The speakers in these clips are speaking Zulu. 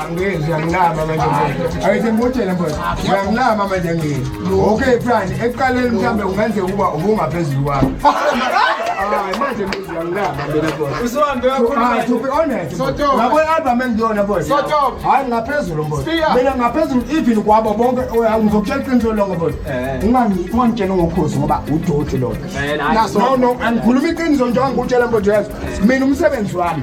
angezi uyanginama manje ayithi ngikutshele mfowethu uyanginama manje ngini okay plan ekuqaleni mhlawumbe kungenzeka ukuba ubungaphezulu kwami hayi manje ngezi uyanginama mina mfowethu ah, to be honest ngabo i-album engiyona mfowethu hayi ngaphezulu mfowethu mina ngaphezulu even kwabo bonke oh, ngizokutshela iqiniso lonke mfowethu eh. ungangitshela ngokhozi ngoba udoti lona eh, no no angikhuluma iqiniso njengoba ngikutshela mfowethu yazi mina umsebenzi wami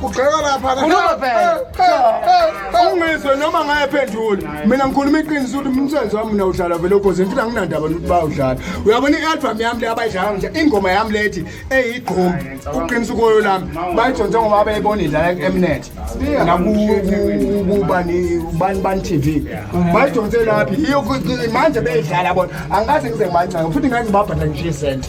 kugxeka lapha ungizwe noma ngayephendula mina ngikhuluma iqiniso ukuthi umsebenzi wami mina udlala vele ukhoze ngifuna nginandaba nokuthi bawudlala uyabona i-albhamu yami le abayidlala nje ingoma yami lethi eyigqomi kuqinisa ukoyo lami bayidonse ngoba abeyibona idlala ku-emnet nakubani bani t v bayidonse laphi iyo manje beyidlala bona angikaze ngize ngibancanga futhi ngangibabhadla ngishiye isente